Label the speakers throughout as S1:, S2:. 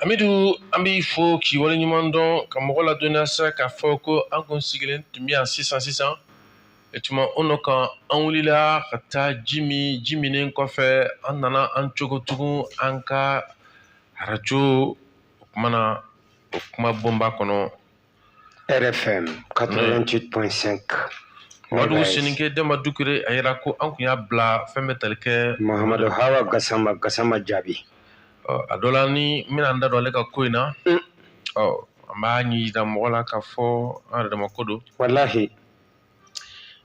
S1: amidu an b'i fo k'i wale ɲuman dɔn ka mɔgɔ ladɔnniya sa k'a fɔ ko an kun sigilen tun bɛ yan sisan sisan e tuma o nɔ kan an wulila ka taa ji min ji minnen kɔfɛ an nana an cogo tugun an ka arajo o kumana o kuma bonba kɔnɔ
S2: RFM
S1: 88.5. Madu Soninke Dɛnba Dukure a yira ko an kun y'a bila fɛn bɛ tali kɛ Mahamadu Hawa Gasama
S2: Gasama Jaabi. Ɔ a dɔ la
S1: ni n bɛna n da don ale ka ko in na. Un. Ɔ an b'a ɲɛ yira mɔgɔ la k'a fɔ an yɛrɛ dama ko don. Walahi.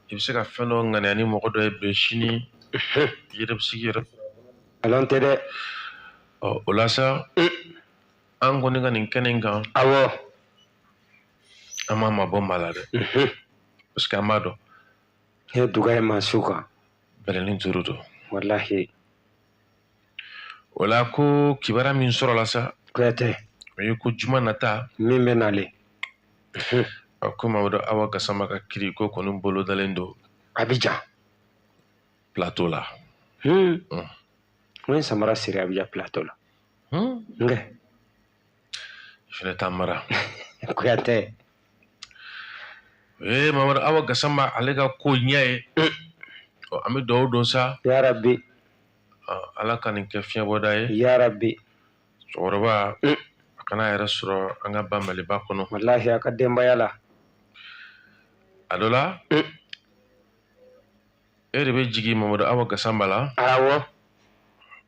S1: I bɛ se ka fɛn dɔ ŋaniya ni mɔgɔ dɔ ye bi sini. Unhun. I yɛrɛ bɛ sigi yɛrɛ. Nkalon tɛ dɛ.
S2: Ɔ o
S1: la sa. Un. an kɔni ka nin kɛnɛ in kan awɔ an ma mabɔ maa la dɛ mhm. parce que an b'a dɔn n'e duga
S2: ye maa su kan bɛlɛnin duuru
S1: don walahi o la ko kibaru min sɔrɔla sa kuyatɛ
S2: o ye ko
S1: juma nata min bɛ nalen mhm. a ko mamadu awa gasama ka kiri ko kɔni bolodalen don abidjan plateau la hmm.
S2: hmm. n ye samara siri abidjan plateau la Hmm?
S1: N k'i fɛnɛ t'a mara.
S2: Kuyatɛ. Eh
S1: Mamadu Awa Gasama ale ka ko ɲɛ ye. Hmm. Ɔ an bɛ dugawu don sa. Ya Rabbi. Ala ka nin kɛ fiɲɛbɔda ye. Ya
S2: Rabbi.
S1: Cɛkɔrɔba hmm. a ka na a yɛrɛ sɔrɔ an ka ba Maliba kɔnɔ. Walahi a ka denbaya
S2: la.
S1: A dɔ la. e de bɛ jigin mamadu awa gasama la
S2: awɔ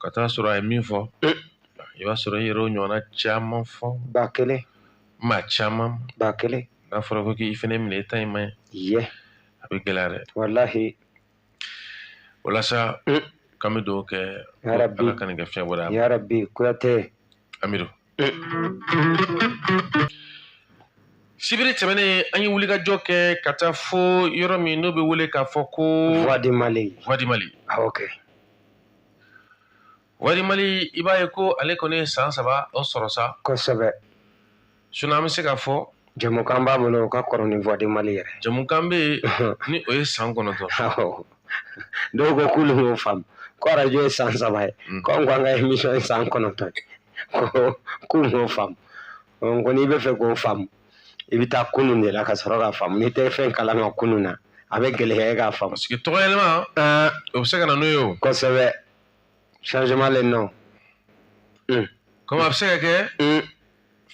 S1: ka taa sɔrɔ a ye min fɔ mm. i b'a sɔrɔ i yɛrɛ o ɲɔgɔnna caman fɔ ba kelen
S2: maa caman
S1: ba kelen n'a
S2: fɔra ko k'i
S1: fɛnɛ minɛ i ta in man ɲi a
S2: bɛ gɛlɛya
S1: dɛ walahi o la sa mm. k'an bɛ dugawu kɛ ala ka nin kɛ
S2: fiɲɛbɔda
S1: ye yarabi kuyatɛ
S2: amidu
S1: sibiri tɛmɛnen an ye wulikajɔ kɛ ka taa fo yɔrɔ min n'o bɛ wele k'a fɔ ko voix du mali voix
S2: du mali ah,
S1: ok voix du mali i b'a ye ko ale kɔni ye san saba o sɔrɔ sa kosɛbɛ
S2: sinon
S1: an bɛ se k'a fɔ Jamukan b'a
S2: bolo o ka kɔrɔ ni voix du Mali yɛrɛ ye. Jamukan bɛ
S1: yen ni o ye san kɔnɔntɔn.
S2: Awɔ dɔw ko k'olu m'o faamu ko radio ye san saba ye mm. ko an ko an ka émission ye san kɔnɔntɔn ye ko k'u m'o faamu n ko n'i b'a fɛ k'o faamu i bɛ taa kunun de la ka sɔrɔ k'a faamu n'i tɛ fɛn kalama kunun na a bɛ gɛlɛya k'a faamu. Parce que tɔgɔ yɛlɛma
S1: ah. o bɛ se ka na n'o ye o. Kosɛbɛ
S2: changement le nom.
S1: Komi a bɛ se ka kɛ.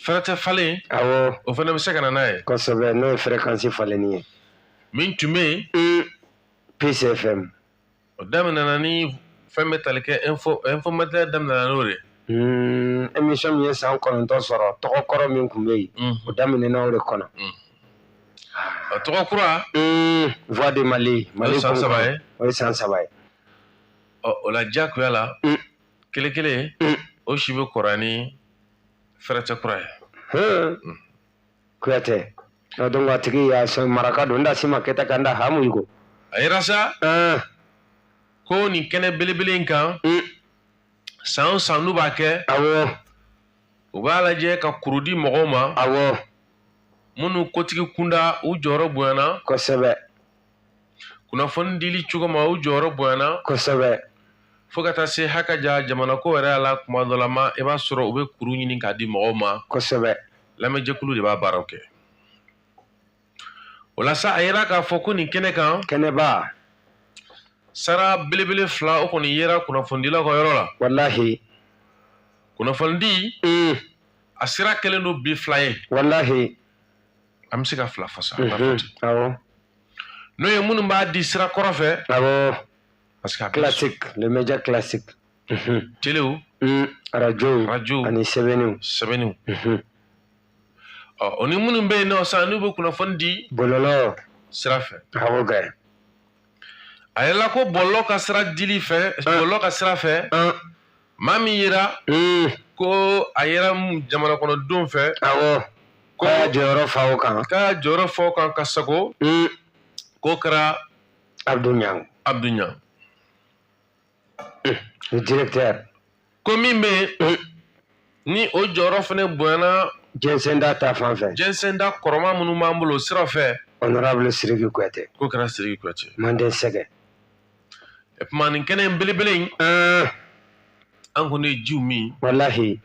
S1: Fɛrɛtɛ falen, awɔ, o fana
S2: bɛ se ka na
S1: n'a ye, kosɛbɛ n'o ye
S2: fɛrɛkansi falenni ye, min tun bɛ
S1: yen, un, Peace
S2: FM, o daminɛna
S1: ni fɛn bɛ tali kɛ info info matin daminɛna n'o de ye, un, émission
S2: min ye san kɔnɔntɔn sɔrɔ tɔgɔ kɔrɔ min tun bɛ yen, un, o daminɛna o de kɔnɔ,
S1: un, a tɔgɔ kura, un, voix
S2: de Mali, Mali o ye san saba ye,
S1: o ye san saba ye,
S2: ɔ
S1: o la diyagoya la, un, kelen kelen, un, o si bɛ kɔrɔ ni fɛrɛtɛ kura ye
S2: hmm. kuyatɛ donc a tigi y'a sɔn maraka don n da si ma kɛta ka n da hamu i ko a yira sa
S1: hmm. ko nin kɛnɛ belebele in kan hmm. san o san n'u b'a kɛ
S2: awɔ u
S1: b'a lajɛ ka kuru di mɔgɔw ma awɔ
S2: minnu
S1: kotigi kunda u jɔyɔrɔ bonyana kosɛbɛ kunnafoni dili cogo ma u jɔyɔrɔ bonyana
S2: kosɛbɛ fo ka
S1: taa se haka ja jamana ko yɛrɛ la kuma dɔ la ma i b'a sɔrɔ u bɛ kuru ɲini k'a di mɔgɔw ma kosɛbɛ
S2: lamɛnjɛkulu de b'a
S1: baaraw kɛ o la sa a yira k'a fɔ ko nin kɛnɛ kan kɛnɛba sara belebele fila o kɔni yera kunnafonidilaw ka yɔrɔ la walahi kunnafonidi mm. a sira kɛlen don bi fila ye walahi an bɛ se ka fila fɔ
S2: sa
S1: n'o ye minnu b'a di sira kɔrɔ fɛ parce
S2: que
S1: classique le média
S2: classique telew
S1: arajo
S2: arajo ani sɛbɛnniw sɛbɛnniw
S1: o ni minnu bɛ yen nɔ sisan n'u bɛ kunnafoni di
S2: bɔlɔlɔ sira
S1: fɛ awɔ kɛ a yɛlɛla ko bɔlɔlɔ ka sira dili fɛ bɔlɔlɔ ka sira fɛ maa min yera ko a yera jamana kɔnɔ denw fɛ awɔ
S2: ko a y'a jɔyɔrɔ fa o kan k'a jɔyɔrɔ fa o kan
S1: ka sago k'o kɛra abdu ɲang
S2: abdu ɲang le directeur ko min
S1: bɛ yen ni o jɔyɔrɔ fana bonyana jɛnsɛnda ta
S2: fan fɛ jɛnsɛnda kɔrɔma minnu
S1: b'an bolo o sira fɛ honorable siriki
S2: kuyate k'o kɛra siriki kuyate
S1: manden sɛgɛ e kuma nin kɛnɛ in belebele in an kɔni ye jiw min walahi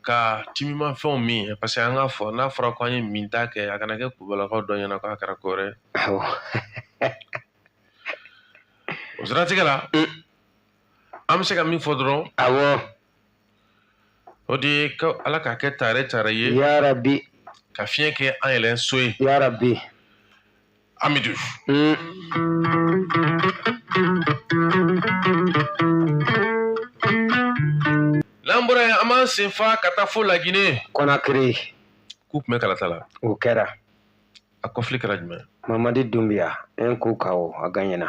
S1: ka timimafɛnw min ye parce que an k'a fɔ n'a fɔra ko an ye min ta kɛ a kana kɛ kubalakaw dɔ ɲɛ na k'a kɛra ko wɛrɛ o siratigɛ la an bɛ se ka min fɔ dɔrɔn awɔ o de ye ko ala k'a kɛ tare tare ye yarabi
S2: ka fiɲɛ
S1: kɛ an yɛlɛn so ye yarabi amidu mm. n'an bɔra yen an b'an sen fa ka taa fo lagine
S2: kɔnakiri k'u tun
S1: bɛ kalata la o kɛra
S2: a kɔfili
S1: kɛra jumɛn mamadi dunbiya
S2: un coup KO a gaɲɛna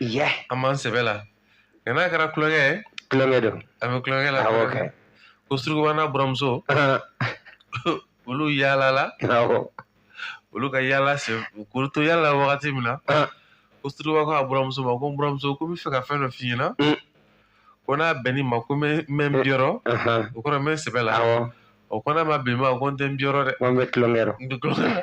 S1: Yɛ. An b'an sɛbɛ la. Nka n'a kɛra tulonkɛ ye. Tulonkɛ don. A bɛ
S2: tulonkɛ la. Awɔ
S1: kɛ. Ko
S2: Surukuba n'a
S1: buramuso. Olu yaalala. Awɔ. Olu ka yaala sen k'u to yaala la wagati min na. Ko Surukuba ko a buramuso ma ko n buramuso ko n bɛ fɛ ka fɛn dɔ f'i ɲɛna. Un. Ko n'a bɛnn'i ma ko n bɛ n bɛ n biyɔrɔ. Ahan. O kɔrɔ n bɛ n sɛbɛ la. Awɔ. O ko n'a ma bɛn i ma ko n tɛ n biyɔrɔ dɛ. Ko n bɛ tulonkɛ la. N bɛ
S2: tulonkɛ la.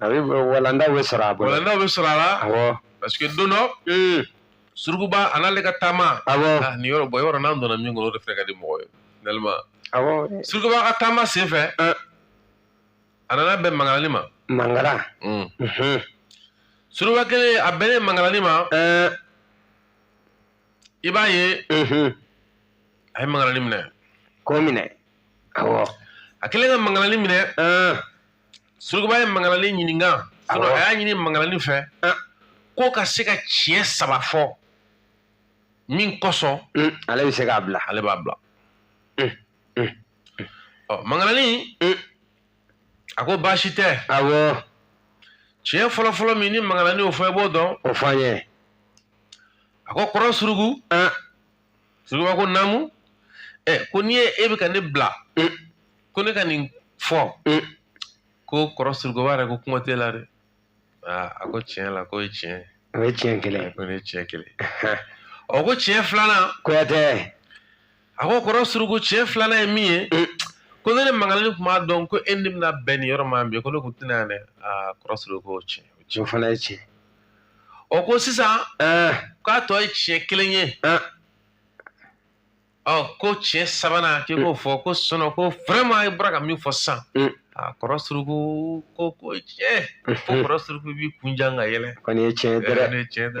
S1: a bɛ
S2: walandaw bɛ sɔrɔ a bolo walandaw bɛ sɔrɔ a la
S1: awɔ parce que don dɔ surukuba a n'ale ka taama awɔ nin yɔrɔ bɔ yɔrɔ n'an donna min kɔnɔ o de fɛnɛ ka di mɔgɔ ye finalement awɔ surukuba
S2: ka taama
S1: sen fɛ a nana bɛn mangarani ma mangara surukuba kelen a bɛnnen mangarani ma i b'a ye a ye mangarani minɛ k'o minɛ
S2: awɔ a kelen ka
S1: mangarani minɛ surukuba ye mangalani ɲininka a y'a ɲini mangalani fɛ ko ka se ka tiɲɛ saba fɔ min kosɔn mm, ale bɛ se k'a
S2: bila ale b'a bila mm,
S1: mm, ɔ mangalani a ko baasi tɛ awɔ
S2: tiɲɛ
S1: fɔlɔfɔlɔ min ni mangalani y'o fɔ i b'o dɔn o fɔ an ye a ko kɔrɔ suruku surukuba ko naamu ɛ ko n'i ye e bɛ ka ne bila ko ne ka nin fɔ ko kɔrɔ surukuba yɛrɛ ko kuma t'e la dɛ aa a ko tiɲɛ la k'o ye tiɲɛ ye o ye tiɲɛ kelen ye
S2: ko ne ye tiɲɛ kelen
S1: ɔ ko tiɲɛ filanan
S2: kuyatɛ a
S1: ko kɔrɔ suruku tiɲɛ filanan ye min ye ko ni ne mangalani tun b'a dɔn ko e ni n bɛna bɛn nin yɔrɔ ma bi ko ne tun tɛ na yan dɛ aa kɔrɔ suruku ko tiɲɛ o fana ye tiɲɛ
S2: o
S1: ko sisan k'a tɔ ye tiɲɛ kelen ye ɔ ko tiɲɛ sabanan k'i k'o fɔ ko sinon ko vraiment i bɔra ka min fɔ sisan a kɔrɔ suruku ko ko tiɲɛ ko kɔrɔ suruku b'i kun jan ka yɛlɛ ko nin ye tiɲɛ ye dɛ
S2: tiɲɛ dɛ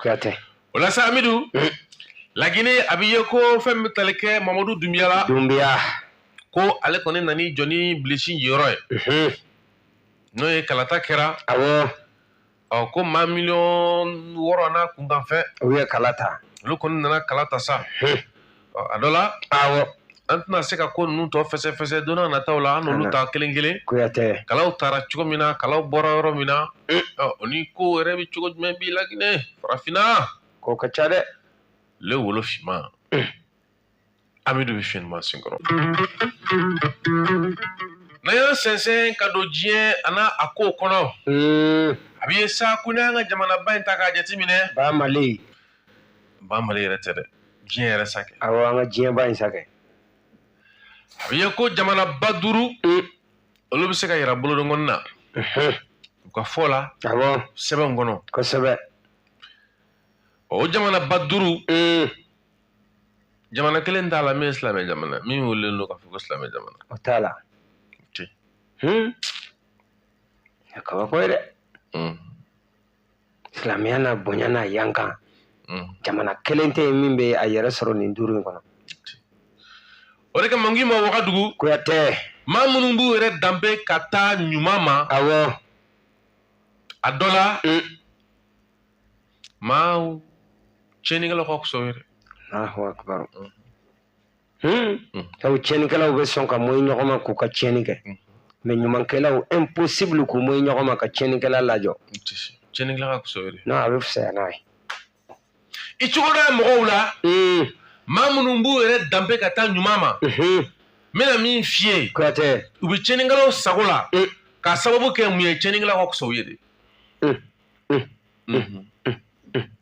S2: kuyatɛ o la
S1: sa amidu mm. lagine a bɛ ye ko fɛn min bɛ tali kɛ mamadu dunbiya la dunbiya ko ale kɔni nan'i jɔ ni bilisi jɔyɔrɔ ye mm-hmm. n'o ye kalata kɛra
S2: awɔ ɔ ko
S1: maa miliyɔn wɔɔrɔ n'a kunkanfɛn u ye kala ta
S2: olu kɔni nana kala
S1: ta sa mm-hmm. ɔ a dɔ la awɔ an
S2: tɛna se
S1: ka ko ninnu tɔ fɛsɛfɛsɛ don nataw la an n'olu ta kelen kelen kuyatɛ kalaw
S2: taara cogo
S1: min na kalaw bɔra yɔrɔ min na eh. ɔ o ni ko yɛrɛ bɛ cogo jumɛn bi laginɛ farafinna ko ka ca dɛ
S2: le
S1: wolo finman eh. amidu bɛ finman senkɔrɔ n'an y'an sɛnsɛn ka don diɲɛ a n'a a kow kɔnɔ eh. a bɛ ye sa ko n'an ka jamanaba in ta k'a jateminɛ ba mali
S2: ba
S1: mali yɛrɛ tɛ dɛ diɲɛ yɛrɛ sakɛ awɔ an ka diɲɛba
S2: in
S1: sakɛ a bɛ ye ko jamanaba duuru mm. olu bɛ se ka yira bolonkɔni na mhm. u ka fɔ la awɔ sɛbɛn
S2: kɔnɔ
S1: kosɛbɛ o jamanaba duuru mm. jamana kelen t'a la min ye silamɛ jamana min welelen don k'a fɔ ko silamɛ jamana o t'a la
S2: o tɛ yen kabako ye dɛ silamɛya n'a bonya n'a yankan mm. jamana kelen tɛ yen min bɛ a yɛrɛ sɔrɔ nin duuru in kɔnɔ
S1: o de kama n k'i ma wagadugu kuyatɛ maa
S2: minnu b'u yɛrɛ
S1: danbe ka taa ɲuman ma awɔ a dɔ la mm. maaw tiɲɛnikɛlaw ka fisa o ye dɛ
S2: sabu tiɲɛnikɛlaw bɛ sɔn ka mɔyi ɲɔgɔn ma k'u ka tiɲɛni kɛ mais ɲumankɛlaw impossible k'u mɔyi ɲɔgɔn ma ka tiɲɛnikɛla lajɔ tiɲɛnikɛla ka
S1: fisa de non a bɛ fisaya n'a ye i cogo dɔ ye mɔgɔw la maa minnu b'u yɛrɛ danbe ka taa ɲuman ma n bɛna min f'i ye kuyatɛ u
S2: bɛ
S1: tiɲɛnikɛlaw sago la k'a sababu kɛ mun ye tiɲɛnikɛlaw ka fisa u ye de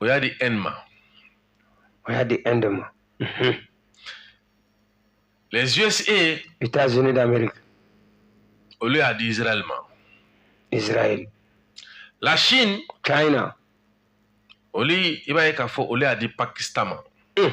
S1: o y'a di Inde ma. O
S2: y'a di Inde ma. Mhm.
S1: Les USA. États-Unis d'Amérique. Olu y'a di Israël ma. Israël. La Chine. China. Olu i b'a ye k'a fɔ olu y'a di Pakistan ma. Mm.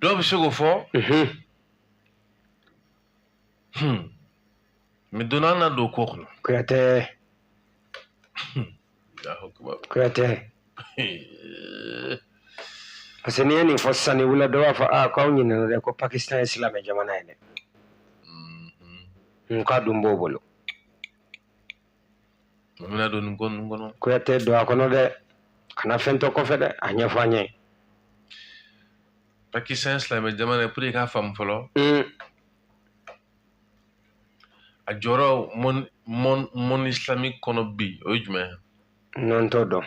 S1: dɔw bɛ se k'o fɔ mais dɔɔnin an na don ko kɔnɔ kuyatɛ
S2: kuyatɛ parce que n'i ye nin fɔ sisan ni wula dɔ b'a fɔ aa k'aw ɲinɛna dɛ ko pakistan ye silamɛ jamana ye dɛ n k'a dun b'o bolo
S1: N bɛna don nin ko ninnu kɔnɔ. Kuyate don a kɔnɔ
S2: dɛ kana fɛn to kɔfɛ dɛ a ɲɛfɔ an
S1: ye. Pakistan ye silamɛ jamana ye pour que i k'a faamu fɔlɔ. Mm. A jɔyɔrɔ monde monde monde islamique kɔnɔ bi o ye jumɛn ye. N t'o dɔn.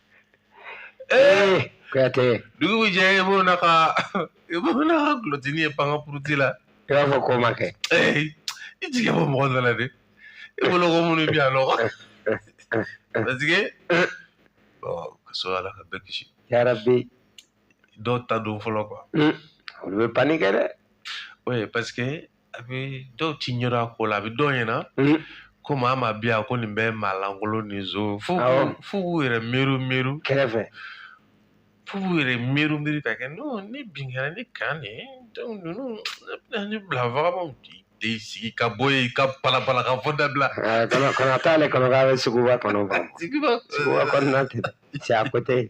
S2: Eh, Kuyate, dugu bɛ
S1: jɛ i b'o n'a ka i b'o n'a ka kulɔtini ye pan ka puruti la i b'a fɔ ko ma kɛ.
S2: Eh, i
S1: jigi bɔ mɔgɔ dɔ la dɛ i bolo ko minnu bɛ yan nɔ parce que ɔ ka sɔrɔ ala ka bɛɛ kisi Yarabi,
S2: dɔw
S1: ta don fɔlɔ quoi mm, olu bɛ
S2: paniquer dɛ. oui parce
S1: que a bɛ dɔw ti ɲɛdɔn a ko la a bɛ dɔw ɲɛna mm. ko maa maa bɛ yan ko nin bɛ maa lankolon ni zo fo fo k'u yɛrɛ miiri miiri kɛrɛfɛ fo k'u yɛrɛ miiri miiri ka kɛ n'o ni bin kɛra ni kan de ye ninnu ne bɛna ni bila vagabɔw di de sigi ka bɔ yen ka palapala ka fɔ dabila. kana kana t'ale
S2: kɔnɔ k'a bɛ suguba kɔnɔ ban suguba kɔnɔna tɛ cɛ a ko tɛ yen.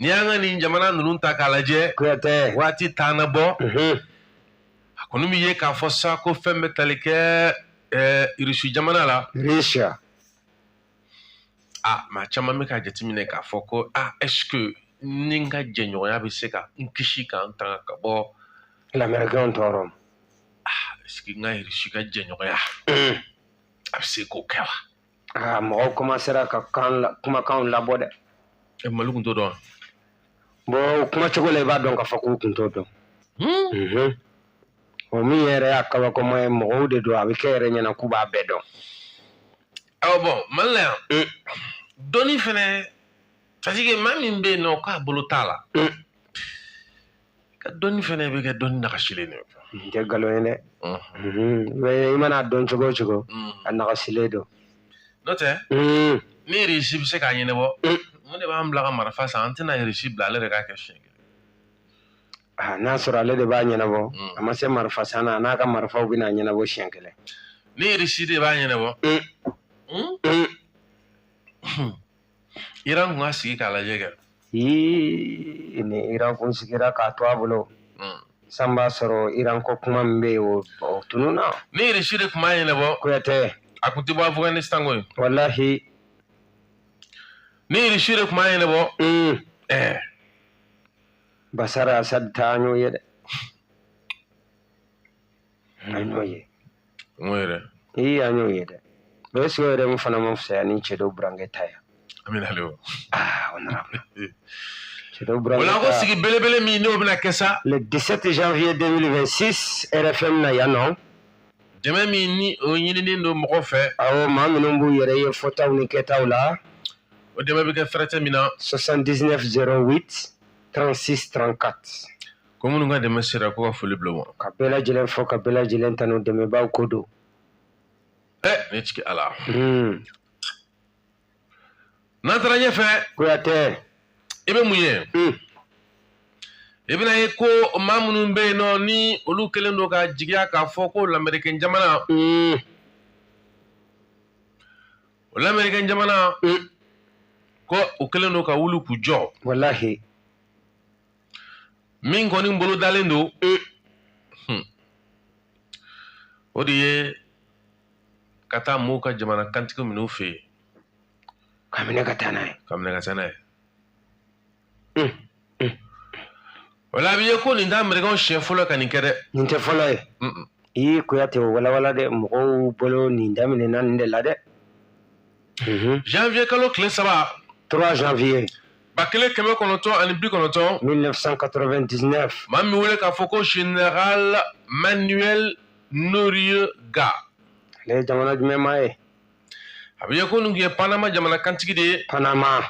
S1: n'i y'an ka nin jamana ninnu ta k'a lajɛ kuyatɛ waati
S2: t'an na
S1: bɔ a kɔni bɛ ye k'a fɔ sa ko fɛn bɛ tali kɛ ɛɛ irisi jamana la risiya
S2: a
S1: maa caman bɛ k'a jateminɛ k'a fɔ ko a ɛsike nin ka jɛɲɔgɔnya bɛ se ka n kisi ka n tanga ka bɔ lamɛrikɛnw
S2: tɔɔrɔ ɛsike
S1: n ka irisi ka jɛɲɔgɔnya a bɛ se k'o kɛ wa aa mɔgɔw
S2: kɔmasera ka kan la- kumakanw labɔ dɛ E, mali kun t'o
S1: dɔn bɔn o
S2: kuma cogo la i b'a dɔn k'a fɔ k'u kun t'o dɔn Hmm? Mhm. o min yɛrɛ y'a kabakoma ye mɔgɔw de don a bɛ kɛ yɛrɛ ɲɛna k'u b'a bɛɛ dɔn
S1: awɔ bɔn mali la yan Mm. dɔnni fɛnɛ c'est à dire que maa min bɛ yen nɔ k'a bolo t'a la Mm. ka dɔnni fɛnɛ bɛ kɛ dɔnni nagasilen de ye nin tɛ nkalon ye
S2: dɛ mɛ i man'a dɔn cogo o cogo a nagasilen don n'o tɛ
S1: ni irisi bɛ se k'a ɲɛnabɔ mun de b'an bila ka marifa san an tɛna irisi bila ale de k'a kɛ siɲɛ kelen n'a sɔrɔ ale
S2: de b'a ɲɛnabɔ a ma se marifa san na n'a ka marifaw bɛn'a ɲɛnabɔ siɲɛ kelen ni irisi
S1: de b'a ɲɛnabɔ Iran tun ka sigi k'a lajɛ kɛ
S2: ee ni Iran kun sigira k'a to a bolo hmm. san b'a sɔrɔ Iran ko kuma min bɛ yen o o tununna ni Irisi de tun b'a
S1: ɲɛnabɔ kuyatɛ a kun
S2: tɛ bɔ
S1: Afghanistan koyi walahi ni Irisi de tun b'a ɲɛnabɔ hmm. ɛɛ
S2: Basar Asad ta an y'o ye dɛ an y'o ye n ko
S1: yɛrɛ ee an y'o ye
S2: dɛ o ye sigiyɔrɔ yɛrɛ min fana ma fisaya ni cɛ dɔ burankɛ ta ye an bɛ nalen o
S1: aa o nana
S2: cɛ dɔ burankɛ o la ko ta sigi belebele
S1: min n'o bɛna kɛ sa le 17 janvier
S2: 2026 rfm na yan nɔ dɛmɛ
S1: min ni o ɲininen don mɔgɔw fɛ awɔ maa minnu
S2: b'u yɛrɛ ye fɔtaw ni kɛtaw la o dɛmɛ bɛ
S1: kɛ fɛrɛtɛ min na 79
S2: 08 36 34 Ko minnu
S1: ka dɛmɛ sera ko ka foli bila u ma. Ka bɛɛ lajɛlen fo
S2: ka bɛɛ lajɛlen tanu dɛmɛbaaw ko don.
S1: Ɛ ne jigi Ala. Hmm. N'an taara ɲɛfɛ. Kuyatɛ.
S2: I bɛ mun
S1: ye? Hmm. I bɛna ye ko maa minnu bɛ yen nɔ ni olu kɛlen don ka jigiya k'a fɔ ko lamɛrikɛn jamana. Hmm. O lamɛrikɛn jamana. Ko u kɛlen don ka wuli k'u jɔ. Walahi. min kɔni bolodalen don e hmm. o de ye ka taa mɔɔw ka jamana kantigi minɛ u fɛ yen k'a
S2: minɛ ka taa n'a ye k'a minɛ ka taa n'a ye
S1: hmm. hmm. o la a bɛ ye ko nin tɛ amerikɛnw siɲɛ fɔlɔ ka nin kɛ dɛ nin tɛ fɔlɔ ye
S2: i kuyatɛ o walawala dɛ mɔgɔw bolo nin daminɛna nin de la dɛ
S1: Mhm. janvier kalo tile saba. 3
S2: janvier. ba kelen kɛmɛ kɔnɔntɔn ani
S1: bi kɔnɔntɔn.
S2: 1999. maa min wele k'a
S1: fɔ ko général manuel noriega. ale
S2: ye jamana jumɛn maa ye. a bɛ
S1: ye ko nin tun ye panama jamana kantigi de ye.
S2: panama.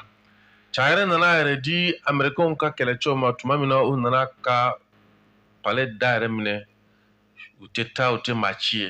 S2: cɛ
S1: yɛrɛ nana a yɛrɛ di amerikɛnw ka kɛlɛcɛw ma tuma min na u nana ka palais da yɛrɛ minɛ u tɛ taa u tɛ maa ci ye.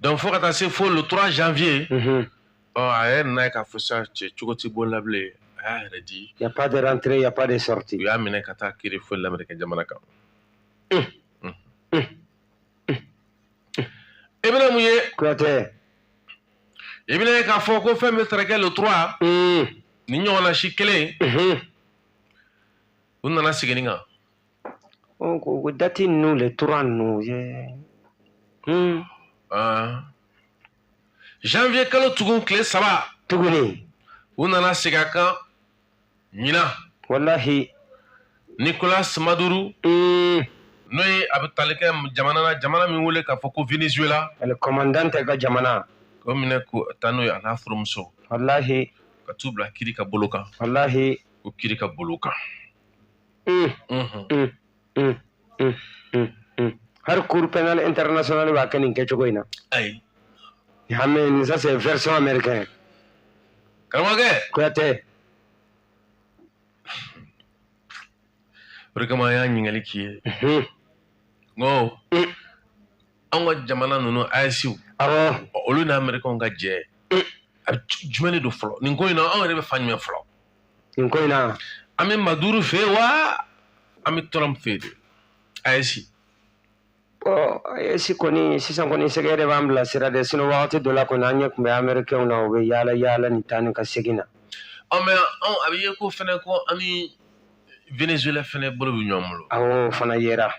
S1: donc fo ka taa se fo le 3 janvier mhm. ɔ a yɛrɛ nana ye k'a fɔ sa cɛ cogo t'a bolo bilen a y'a yɛrɛ di y a pas de rentrée y a
S2: pas de sortie u y'a minɛ ka t'a kiri
S1: fo lamɛrikɛ jamana kan mm. Mm. Mm. i bɛna mun ye kuyatɛ i bɛna ye k'a fɔ ko fɛn bɛ taara kɛ le 3 nin ɲɔgɔnna si kelen u nana segin nin kan
S2: ko date ninnu le 3 ninnu
S1: ye hmm. ah. janvier kalo tugun tile saba tuguni
S2: u nana
S1: segin a kan ɲinan walahi nicolas maduro hmm. n'o ye a bɛ tali kɛ jamana na jamana min wele k'a fɔ ko venezuela el comandante
S2: ka jamana k'o minɛ
S1: ka taa n'o ye a n'a furumuso walahi
S2: ka t'u bila kiri
S1: ka bolo kan walahi ko kiri
S2: ka bolo
S1: kan
S2: hali cour pénale internationale b'a kɛ nin kɛcogo in na ayi
S1: ah
S2: mais nin ça c'est version
S1: américaine karamɔgɔkɛ kuyatɛ o de kama an y'a ɲininkali k'i ye n ko an ka jamana ninnu AESw awɔ olu
S2: ni amerikɛnw
S1: ka jɛ a bɛ jumɛn de don fɔlɔ nin ko in na anw yɛrɛ bɛ fan jumɛn fɔlɔ nin ko in
S2: na an bɛ
S1: maduro fɛ wa an bɛ trump fɛ de AES ɔ
S2: AES kɔni sisan kɔni sergueï de b'an bila sira dɛ sinon wagati dɔ la kɔni an ɲɛ tun bɛ amerikɛnw na u bɛ yaala yaala nin taa ni ka segin na ɔ mais
S1: anw a bɛ ye ko fɛnɛ ko an ni venezuela fɛnɛ bolo bɛ ɲɔgɔn bolo awɔ o fana
S2: yera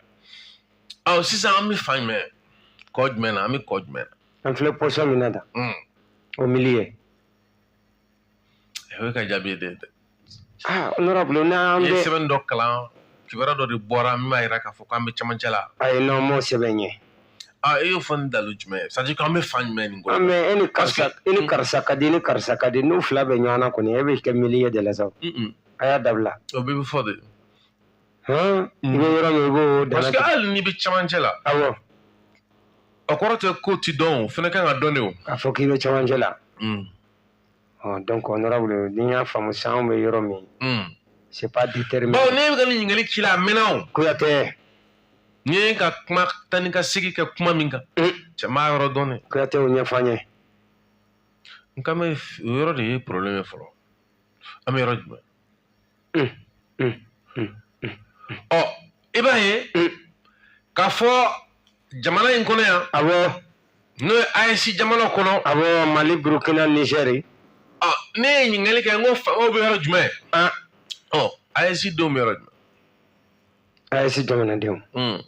S2: ɔ
S1: sisan an bɛ fan jumɛn kɔ jumɛn na an bɛ kɔ jumɛn na an filɛ position min na
S2: da Mm. au milieu
S1: o ye ka jaabi ye dɛ
S2: aa honorable n'an bɛ i ye
S1: sɛbɛn dɔ kalan kibaruya dɔ de bɔra min b'a jira k'a fɔ k'an bɛ cɛmancɛ la ayi n'an m'o
S2: sɛbɛn ye aa e y'o fɔ
S1: ni dalu jumɛn ye c'est à dire k'an bɛ fan jumɛn nin kɔnɔ mais e ni karisa
S2: e ni karisa ka di ni karisa ka di n'u fila bɛ ɲɔgɔn na kɔni e bɛ kɛ milieu de la sa a y'a dabila o bɛɛ bɛ fɔ
S1: de
S2: hɔn i bɛ yɔrɔ min i b'o dana parce que hali n'i bɛ cɛmancɛ
S1: la awɔ o kɔrɔ tɛ k'o ti dɔn o fana kan ka dɔn de o k'a fɔ k'i bɛ cɛmancɛ
S2: la donc honorable ni y'a faamu sisan anw bɛ yɔrɔ min hmm. c'est pas déterminé bon ne bɛ ka nin
S1: ɲininkali k'i la a mɛnna o kuyatɛ
S2: n'i ye
S1: ka kuma taa ni ka segin kɛ kuma min kan hmm. cɛ m'a yɔrɔ dɔn dɛ kuyatɛ o ɲɛfɔ an ye n kan bɛ o yɔrɔ de ye problème ye fɔlɔ an bɛ yɔrɔ jumɛn hmm. ɔ i b'a ye k'a fɔ jamana in kɔnɔ yan
S2: awɔ n'o ye
S1: AES jamana kɔnɔ awɔ Mali
S2: Burukina Nizɛri ɔ ne ye
S1: ɲininkali kɛ n ko faamaw bɛ yɔrɔ jumɛn an ɔ AES denw bɛ yɔrɔ jumɛn
S2: AES jamanadenw hmm.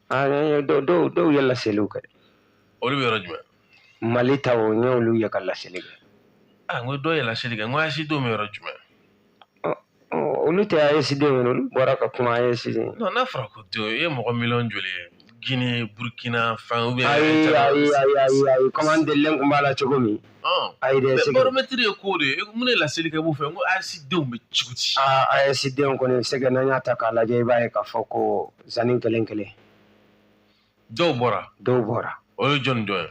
S2: an dɔw dɔw dɔw ye laseliw kɛ olu bɛ
S1: yɔrɔ jumɛn Mali taw
S2: n y'olu ye ka laseli kɛ a n ko
S1: dɔw ye
S2: laseli kɛ
S1: n ko AES denw bɛ yɔrɔ jumɛn
S2: olu tɛ AES denw ye olu bɔra ka kuma AES den n'a fɔra ko
S1: denw e ye mɔgɔ miliyɔn joli ye Guinée, Burkina, enfin, ou bien. Ayi, ayi, ayi, ayi,
S2: ayi, comme an delilen kun b'a la cogo min. Ayi dɛ, c'est que baromètre ye ko de
S1: ye, mun de laseli kɛ b'u fɛ, n ko AES denw bɛ cogo di. Aa AES denw
S2: kɔni c'est que n'an y'a ta k'a lajɛ, i b'a ye k'a fɔ ko zanni kelen
S1: kelen. Dɔw bɔra. Dɔw bɔra. O ye jɔni dɔ ye.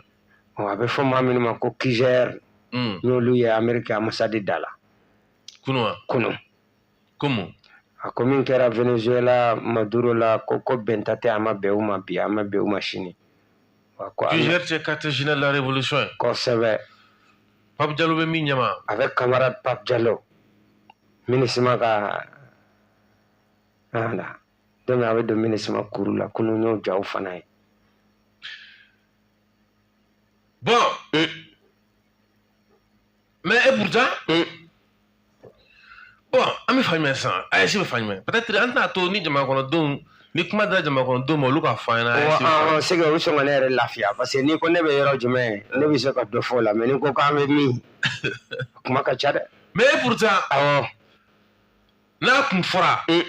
S1: A bɛ fɔ maa
S2: minnu ma ko QGR. N'olu ye Ameriki ambassade da la. kunu
S1: wa kunu komu a ko
S2: min kɛra venezuela maduro la ko ko bɛnta tɛ a ma bɛn u ma bi a ma bɛn u ma sini QGR
S1: tɛ quartier général de la révolution ye kosɛbɛ
S2: pape
S1: jalo bɛ min ɲɛma avec camarade
S2: pape jalo MINUSMA ka voilà donc a bɛ don MINUSMA kuru la kunu n y'o jaw fana ye
S1: bon euh, mais et pourtant. Hmm. bon an bɛ fan jumɛn sisan AES bɛ fan jumɛn peut-être an tɛna to ni jamanakɔnɔdenw ni kuma dira jamanakɔnɔdenw ma olu k'a fɔ an ɲɛna AES bɛ fan jumɛn. c'est que o sɔn ka ne yɛrɛ
S2: lafiya parce que n'i ko ne bɛ yɔrɔ jumɛn ne bɛ se ka dɔ fɔ o la mais n'i ko k'an bɛ min kuma ka ca dɛ mais et
S1: pourtant awɔ n'a kun fɔra Hmm.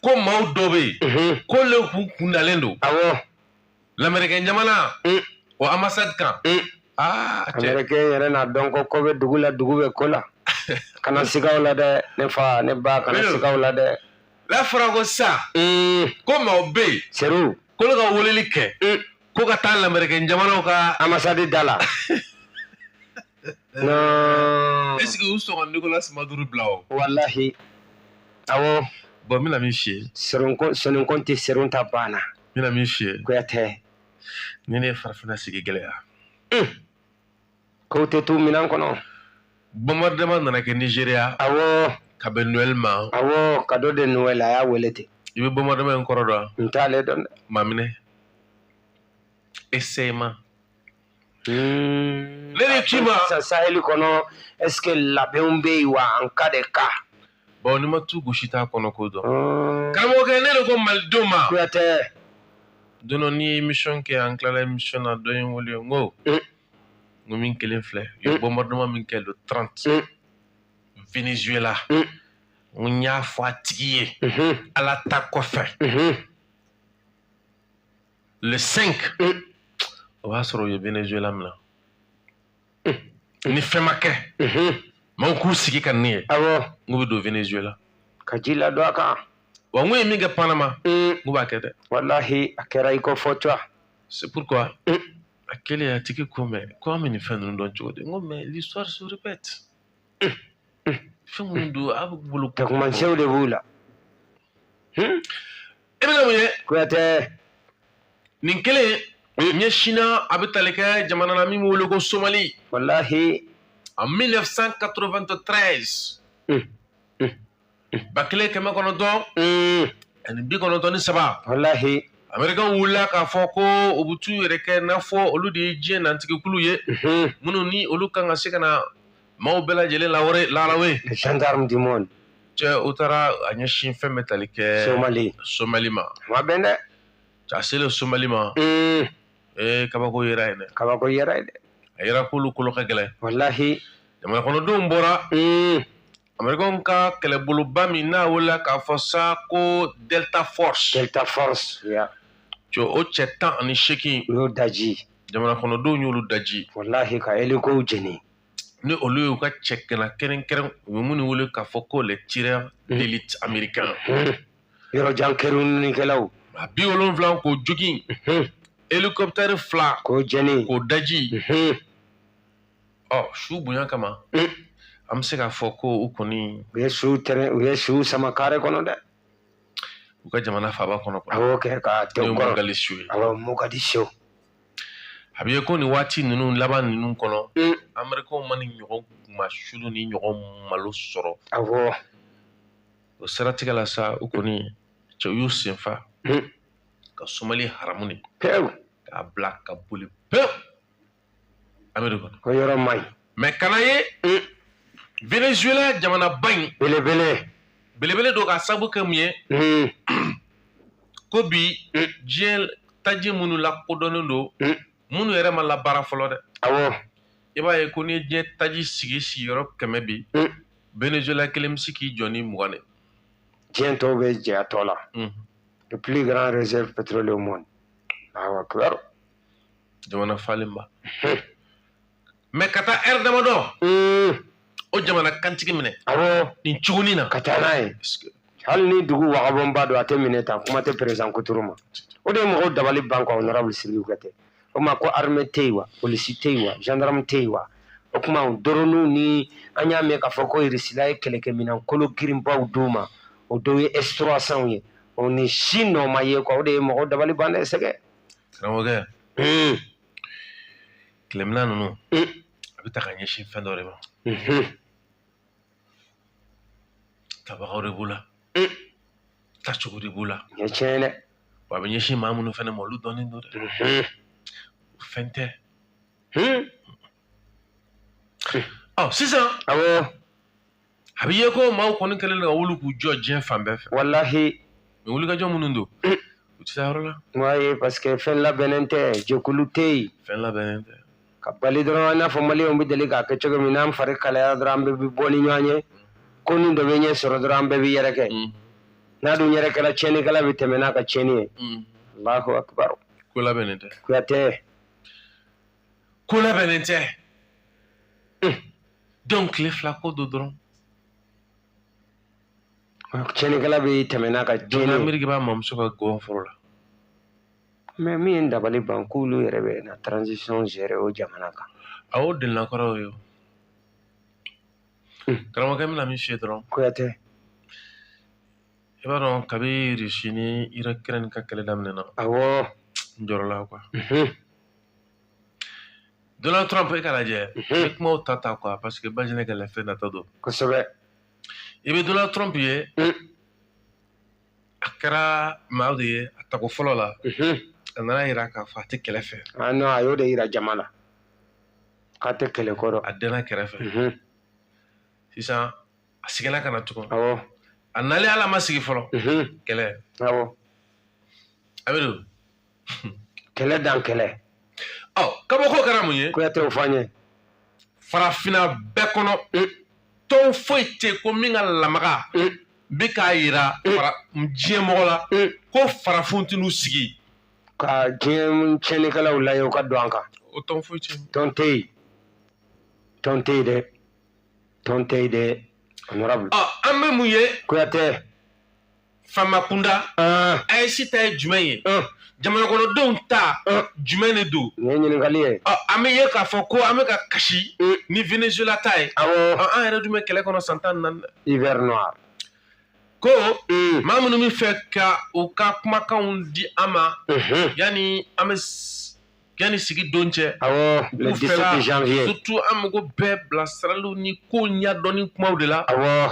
S1: ko maaw dɔ bɛ yen Mhm. k'olu kun kun dalen don awɔ lamɛrikɛn jamana mm. o ambassade kan mm.
S2: ah, américain yɛrɛ n'a dɔn ko ko bɛ dugu la dugu bɛ ko la kana siga o la dɛ ne fa ne ba kana siga o la dɛ n'a fɔra
S1: ko sa mm. ko maaw bɛ yen seru k'olu
S2: ka weleli
S1: kɛ ko ka taa lamɛrikɛn jamanaw ka ambassade da la
S2: non est ce que u sɔn
S1: ka nicolas maduro bila o
S2: walahi awɔ bon n
S1: bɛna min f'i ye soninkɔn tɛ
S2: seron ta banna n bɛna min f'i ye
S1: kuyatɛ ni ne ye farafina sigi
S2: gɛlɛya kow tɛ to minan kɔnɔ
S1: bombardement nana kɛ nigeria awɔ
S2: ka bɛn noël
S1: ma awɔ cadeau de
S2: noël a y'a wele ten i bɛ bombardement in kɔrɔ
S1: dɔn n t'ale dɔn dɛ
S2: maminɛ
S1: essayement
S2: Hmm. Ne de k'i ma.
S1: Sisan saheli
S2: kɔnɔ est-ce que labɛnw bɛ yen wa en cas de cas. Bon n'i ma tu
S1: gosi t'a kɔnɔko dɔn. Hmm. Karamɔgɔkɛ ne de ko malidenw ma. Kuyatɛ.
S2: Don dɔ
S1: n'i ye émission kɛ an tilala émission na dɔ ye n wele n ko. Hmm. N ko min kɛlen filɛ. U ye bombardement min kɛ le 30. Venezuela. N ko n y'a fɔ a tigi ye. Ala ta kɔfɛ. le cinq mm. o b'a sɔrɔ u ye venezuela minɛ mm. ni fɛn ma kɛ mm-hmm. maaw k'u sigi ka ne ye awɔ n k'u bɛ don venezuela ka ji ladon
S2: a kan wa n k'u ye min kɛ
S1: panama mm. n k'u b'a kɛ dɛ walahi a kɛra
S2: i k'o fɔ cogoya c'est
S1: pourquoi a kɛlen a tigi ko mais ko an bɛ nin fɛn ninnu dɔn cogo di n ko mais l'histoire se répète fɛn minnu don a bɛ bolo tagamasiyɛnw de b'u la e bɛ ka mun ye
S2: kuyatɛ
S1: nin kelen ɲɛsinna a bɛ tali kɛ jamana na min bɛ wele ko somali walahi en 1993 mm. mm. ba kelen kɛmɛ kɔnɔntɔn mm. ani bi kɔnɔntɔn ni saba
S2: walahi amerikɛn
S1: wulila k'a fɔ ko u bɛ t'u yɛrɛ kɛ n'a fɔ olu de ye diɲɛ nantigikulu ye minnu ni olu kan ka se ka na maaw bɛɛ lajɛlen lawari larawe les gendarmes
S2: du monde cɛ u
S1: taara a ɲɛsin fɛn bɛ tali kɛ somali somali ma ma bɛn dɛ
S2: a selen
S1: somali ma mm. ee kabako yera yen dɛ kabako yera yen dɛ
S2: a yera k'olu kolo
S1: ka gɛlɛn walahi
S2: jamana
S1: kɔnɔdenw bɔra mm. américain ka kɛlɛboloba min n'a welela k'a fɔ sa ko delta force delta force yeah.
S2: cɛ o
S1: cɛ tan ani seegin u y'o daji
S2: jamana kɔnɔdenw
S1: y'olu daji walahi ka hélicow
S2: jeni ni olu
S1: y'u ka cɛ ŋana kɛrɛnkɛrɛn u bɛ minnu wele k'a fɔ ko les tireurs hmm. d'élite américain hmm. yɔrɔ
S2: jan kerunnikɛlaw a bi wolonwula
S1: k'o jogin hmm. hélicoptère fila k'o jeni k'o
S2: daji
S1: ɔ su bonya kama an bɛ se k'a fɔ ko u kɔni u ye su tɛrɛ
S2: u ye su sama kare kɔnɔ dɛ u
S1: ka jamana faaba kɔnɔ a y'o kɛ ka tɛ
S2: u kɔrɔ awɔ
S1: mogadishu a bɛ ye ko nin waati ninnu laban ninnu kɔnɔ amerikɛnw ma nin ɲɔgɔn kunmasuli nin ɲɔgɔn malo sɔrɔ awɔ o siratigɛ la sa u kɔni cɛw y'u sen fa ka somali haramu de k'a bila
S2: ka
S1: boli pewu ameriki
S2: mais kana ye
S1: mm. venezuela jamanaba in belebele don ka sabu kɛ mun ye mm. ko bi mm. diɲɛ taji minnu lakodɔnnen don minnu yɛrɛ ma labaara fɔlɔ dɛ awɔ i
S2: b'a ye
S1: ko ni diɲɛ taji sigi sigiyɔrɔ kɛmɛ bi venezuela kelen bɛ se k'i jɔ ni mugan ye diɲɛ
S2: tɔw bɛ jɛ a tɔ la le plus grand réserve pétrolier au monde alahu akibaru jamana
S1: falenba mais ka taa heure damadɔ hmm. o jamana kantigi minɛ awɔ nin
S2: cogonin na
S1: ka taa n'a
S2: ye hali ni dugu wagabɔnba don a tɛ minɛ tan kuma tɛ président kuturu ma o de ye mɔgɔw dabali ban quoi honorable sidiki kuyatɛ o ma ko arme tɛ yen wa polisi tɛ yen wa gendarme tɛ yen wa o tuma dɔrɔninw ni an y'a mɛn k'a fɔ ko irisila ye kɛlɛkɛminɛn kolo girinbaw d'u ma o dɔw ye S trois cents ye o nin si nɔ ma ye quoi o de ye mɔgɔw dabali ban dɛ sɛgɛ karamɔgɔkɛ
S1: kɛlɛminan ninnu a bɛ ta ka ɲɛsin fɛn dɔ de ma tabagaw de b'u la tacogo de b'u la nin ye tiɲɛ ye
S2: dɛ wa a bɛ ɲɛsin
S1: maa minnu fana ma olu dɔnnen don dɛ o fɛn tɛ ɔ sisan awɔ a bɛ ye ko maaw kɔni kɛlen ka wuli k'u jɔ diɲɛ fan bɛɛ fɛ walahi
S2: mais wulikajɔ
S1: minnu don mm. u tɛ se yɔrɔ la ouais parce que
S2: fɛn labɛnnen tɛ jɛkulu tɛ yen fɛn labɛnnen tɛ
S1: ka bali dɔrɔn i
S2: n'a fɔ maliyɛnw bɛ deli k'a kɛ cogo min n'an fari kalayara dɔrɔn an bɛɛ bɛ bɔ ni ɲɔgɔn ye mm. ko nin dɔ bɛ ɲɛ sɔrɔ dɔrɔn an bɛɛ bɛ yɛrɛkɛ mm. n'an dun yɛrɛkɛra tiɲɛnikɛla bɛ tɛmɛ n'a ka tiɲɛni ye alahu akibaru ko labɛnnen tɛ
S1: kuyatɛ ko labɛnnen tɛ donc tile fila ko don
S2: dɔrɔn tiɲɛnikɛla bɛ tɛmɛ n'a ka tiɲɛni ye ameriki b'a
S1: mamuso ka gɔn foro la
S2: mais min ye dabali ban k'olu yɛrɛ bɛ na transition gérer o jamana kan a y'o delila
S1: kɔrɔ ye hmm. karamɔgɔkɛ bɛna min f'i ye dɔrɔn kuyatɛ i b'a dɔn kabi rusi ni Ukraine ka kɛlɛ daminɛna awɔ n jɔrɔla quoi
S2: hmm.
S1: Donald Trump i k'a lajɛ n bɛ kumaw ta ta quoi parce que Bajinɛ ka lafiya nata don
S2: kosɛbɛ i
S1: bɛ Donald Trump ye a kɛra maa de ye a tako fɔlɔ la a nan'a yira k'a fɔ a tɛ kɛlɛ fɛ a non a y'o de yira
S2: jama la k'a tɛ kɛlɛ kɔrɔ a dɛnna
S1: kɛrɛfɛ sisan a seginna ka na tugun awɔ a
S2: nalen hali
S1: a ma sigi fɔlɔ kɛlɛ awɔ a bɛ don
S2: kɛlɛ dan kɛlɛ ɔ
S1: kabako kɛra mun ye kuyatɛ o fɔ an
S2: ye
S1: farafinna bɛɛ kɔnɔ mm. tɔn foyi tɛ ko min ka lamaga mm. bɛ k'a yira mm. diɲɛ mɔgɔ la ko farafinw tɛ n'u sigi ka
S2: diɲɛ tiɲɛnikɛlaw lajɛ u ka don an kan o tɔn foyi
S1: tɛ tɔn tɛ
S2: yen tɔn tɛ yen dɛ tɔn tɛ yen dɛ honorable an bɛ mun ye
S1: kuyatɛ Faama kunda AES ta ye jumɛn ye jamanakɔnɔdenw ta jumɛn de don nin ye ɲininkali
S2: ye an bɛ ye k'a fɔ
S1: ko an bɛ ka kasi ni venezuela ta ye awɔ an yɛrɛ dun bɛ
S2: kɛlɛ kɔnɔ
S1: san tan ni naani dɛ hiver noir ko maa minnu b'a fɛ ka u ka kumakanw di an ma yanni an bɛ yanni sigi don cɛ awɔ le 17
S2: janvier surtout an mago
S1: bɛ bilasiraliw ni ko ɲɛdɔnni kumaw de la awɔ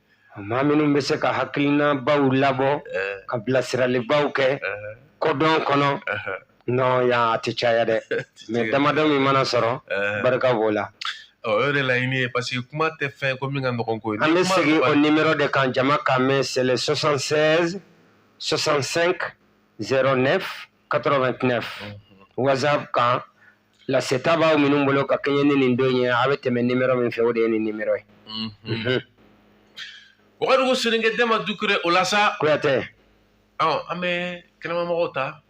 S1: maa minnu
S2: bɛ se ka hakilinabaw labɔ ka bilasiralibaw kɛ kodɔn kɔnɔ non yan a tɛ caya dɛ mais damadɔ min mana sɔrɔ barika b'o la ɔ o yɛrɛ
S1: laɲini ye parce que kuma tɛ fɛn ko min ka nɔgɔn ko ye an bɛ segin o
S2: nimero de kan jama k'a mɛn c'est le 76 65 09 89 whatsapp kan laseta b'aw minnu bolo ka kɛɲɛ ni nin don ye a bɛ tɛmɛ nimero min fɛ o de ye nin nimero
S1: ye wagadugu soninkɛ denba dukure o la sa kuyatɛ
S2: an
S1: bɛ kɛnɛmamɔgɔw ta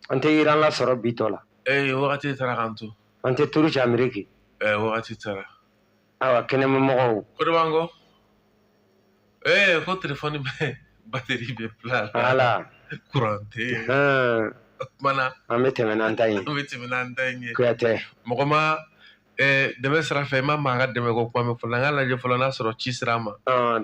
S1: an tɛ
S2: iran lasɔrɔ bi tɔ la wagati taara k'an
S1: to an tɛ turuki ameriki
S2: wagati taara
S1: awa
S2: kɛnɛmamɔgɔw ko de b'an
S1: kɔ ee ko telefɔni bɛ bateri bɛ bila ala kuran
S2: tɛ
S1: yen o kumana an bɛ tɛmɛ n'an ta
S2: ye an bɛ tɛmɛ n'an ta ye
S1: kuyatɛ mɔgɔ madɛmɛ sira fɛ i ma maa ka dɛmɛ ko kuma mɛn fɔlɔ an ka lajɛ fɔlɔ n'a sɔrɔ ci sira ma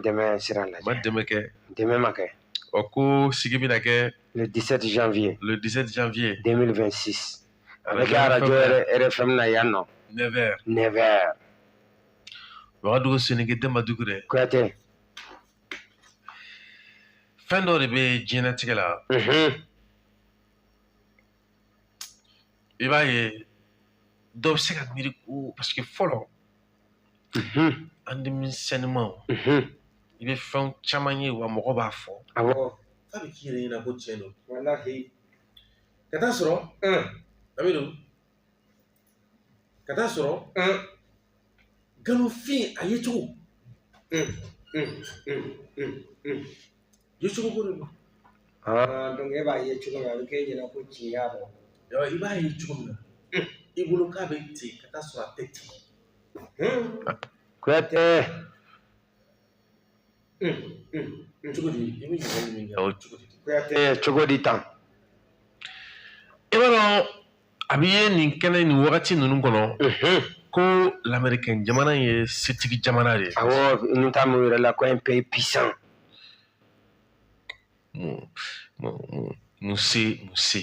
S1: dɛmɛ
S2: sira lajɛ ma dɛmɛ kɛ dɛmɛ
S1: ma kɛ
S2: ɔ ko sigi
S1: bɛna kɛ le 17 janvier
S2: le 17 janvier 2026 a bɛ kɛ arajo rfm na yan nɔ 9 heures 9
S1: heures wagadugu soninkɛ denba dukure kuyatɛ fɛn dɔ de bɛ diɲɛnatigɛ la i b'a ye dɔ bɛ se ka miiri ko parce que fɔlɔ an denmisɛnnimaw i bɛ fɛn caman ye wa mɔgɔ b'a fɔ awɔ k'a bɛ
S2: k'i yɛrɛ ɲɛna
S1: ko tiɲɛ don walahi ka taa sɔrɔ a bɛ don ka taa sɔrɔ nkalonfin a yecogo yecogo ko de don
S2: donc e b'a ye cogo min a bɛ k'e ɲɛna ko tiɲɛ y'a dɔn i b'a ye
S1: cogo min na i bolo k'a bɛ ten ka taa sɔrɔ a tɛ ten kuyatɛ cogo di i bɛ ɲininkali min kɛ o cogo di
S2: kuyatɛ cogo
S1: di tan i b'a dɔn a bɛ ye nin kɛnɛ nin wagati ninnu kɔnɔ ko lamɛrikɛn jamana ye setigi jamana de ye awɔ n ta min
S2: yɛrɛ la ko un pays puissant mun
S1: mun mun mun se mun se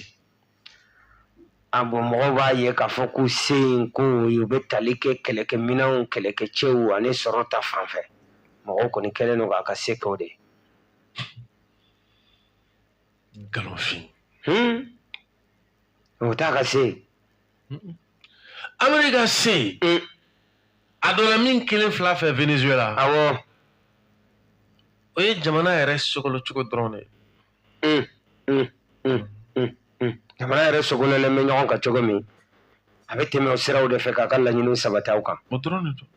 S2: ah bon mɔgɔw b'a ye k'a fɔ ko se in ko ye u bɛ tali kɛ kɛlɛkɛminɛnw kɛlɛkɛcɛw ani sɔrɔ ta fan fɛ mɔgɔw kɔni kɛlen don k'a ka se kɛ o de
S1: ye nkalonfin
S2: o t'a ka se
S1: ameriki ka se a donna min kelen fila fɛ venezuela awɔ o ye jamana yɛrɛ sogolo cogo dɔrɔn de ye
S2: jamana yɛrɛ sogololen bɛ ɲɔgɔn kan cogo min a bɛ tɛmɛ o siraw de fɛ k'a ka laɲini sabati aw kan o dɔrɔn de don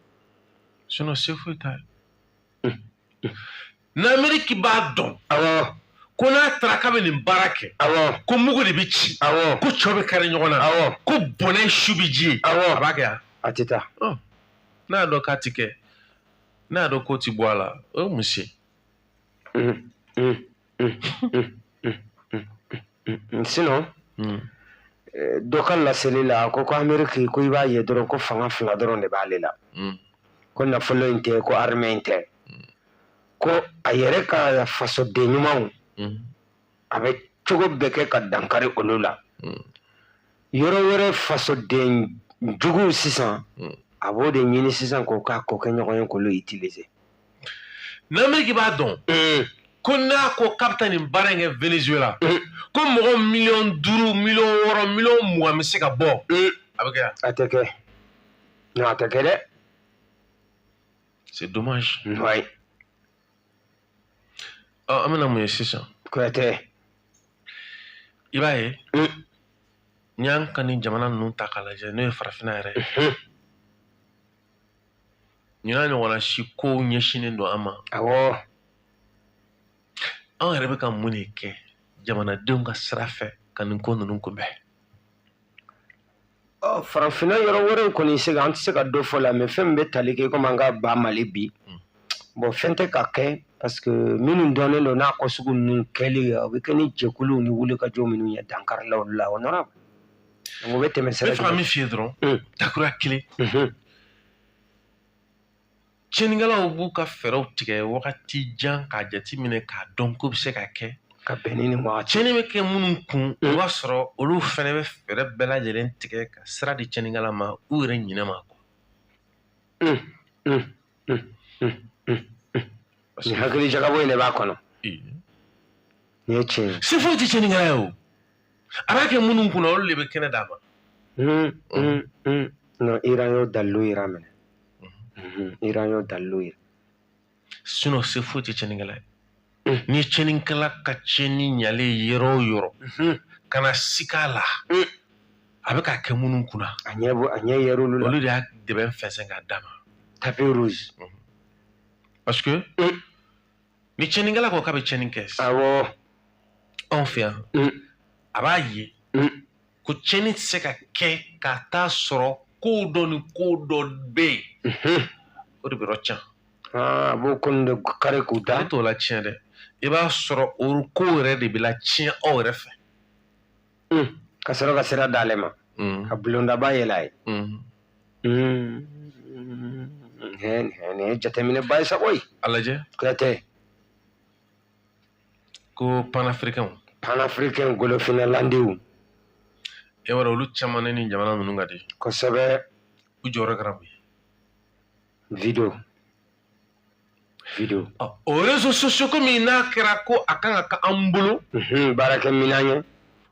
S1: sinon se foyi t'a ye n'ameriki b'a dɔn awɔ
S2: ko n'a
S1: taara k'a bɛ nin baara kɛ awɔ ko mugu de
S2: bɛ
S1: ci awɔ ko cɛw bɛ
S2: kari ɲɔgɔn
S1: na awɔ ko
S2: bɔnɛ
S1: su bɛ ji ye awɔ a
S2: b'a kɛ yan
S1: a tɛ taa n'a y'a dɔn k'a ti kɛ n'a y'a dɔn k'o ti bɔ a la o ye mun se
S2: dɔ ka laseli la a ko ko ameriki ko i b'a ye dɔrɔn ko fanga fila dɔrɔn de b'ale la ko nafolo in tɛ ko armée in tɛ ko a yɛrɛ ka fasoden ɲumanw a bɛ cogo bɛɛ kɛ ka dankari olu la yɔrɔ wɛrɛ fasoden juguw sisan a b'o de ɲini sisan k'o k'a kokɛɲɔgɔn ye k'olu utiliser
S1: n'amérique b'a dɔn ko n'a ko k'a bɛ taa nin baara in kɛ venezuela ko mɔgɔ miliyɔn duuru miliyɔn wɔɔrɔ miliyɔn mugan bɛ se ka bɔ a bɛ kɛ yan a tɛ kɛ
S2: non a tɛ kɛ dɛ
S1: c'est dommage ouais ɔ an bɛna mun ye sisan kuyatɛ i b'a ye n'i y'an ka nin jamana ninnu ta k'a lajɛ n'o ye farafinna yɛrɛ ye nin n'a ɲɔgɔnna si kow ɲɛsinnen don an ma awɔ an yɛrɛ bɛ ka mun de kɛ jamanadenw ka sira fɛ ka nin ko ninnu kunbɛn
S2: farafinna yɔrɔ wɛrɛw kɔni c'est que an tɛ se ka dɔ fɔ la mais fɛn min bɛ tali kɛ komi an ka ba mali bi hmm. bon fɛn tɛ ka kɛ parce que minnu dɔnnen don n'a ko sugu ninnu kɛli o bɛ kɛ ni jɛkuluw ni wulikajɔ minnu ye dankarila olu la o nɔrɔ o bɛ tɛmɛ sira fɛ. ne fana min f'i ye dɔrɔn
S1: hmm. dakura kelen hmm. Tiɲɛnikɛlaw b'u ka fɛɛrɛw tigɛ wagati jan k'a jateminɛ k'a dɔn ko bɛ se ka kɛ ka bɛn ni wagati
S2: tiɲɛni bɛ kɛ minnu
S1: kun o b'a sɔrɔ olu fana bɛ fɛɛrɛ bɛɛ lajɛlen tigɛ ka sira di tiɲɛnikɛla ma u yɛrɛ ɲinɛ ma
S2: kɔ parce que hakili jagabɔ in de b'a kɔnɔ nin ye tiɲɛ ye se foyi tɛ tiɲɛnikɛla ye
S1: o a b'a kɛ minnu kunna olu de bɛ kɛnɛ d'a
S2: ma non iran y'o dalilu yira minɛ iran y'o dalilu yira sinon
S1: se foyi tɛ cɛnikɛla ye ni cɛnikɛla ka cɛni ɲalen yɔrɔ o yɔrɔ kana sik'a la a bɛ k'a kɛ minnu kunna a ɲɛ bɔ a ɲɛ yɛrɛ
S2: olu la olu de y'a dɛbɛn fɛnsɛn
S1: k'a d'a ma tapis rouge parce que ni cɛninkɛla ko k'a bɛ cɛni kɛ
S2: awɔ
S1: anw fɛ yan mm. a b'a ye mm. ko cɛni tɛ se ka kɛ ka taa sɔrɔ ko dɔ ni ko dɔ bɛ yen mhm. o de bɛ yɔrɔ can ah, a b'o
S2: ko ninnu de kari k'u da ale t'o latiɲɛ dɛ
S1: i b'a sɔrɔ o ko yɛrɛ de bɛ latiɲɛ aw yɛrɛ fɛ
S2: mm. ka sɔrɔ ka sira d'ale ma mm. ka bulondaba yɛlɛ a ye mm. nin ye jateminɛba ye sa koyi a lajɛ kuyatɛ
S1: ko panafirikɛnw panafirikɛn golofinnalandiw e b'a dɔn olu caman ne ni jamana ninnu ka di kosɛbɛ
S2: u jɔyɔrɔ kɛra
S1: mun ye
S2: video
S1: video o réseaux sociaux komi n'a kɛra ko a kan ka k'an bolo baarakɛminɛn
S2: ye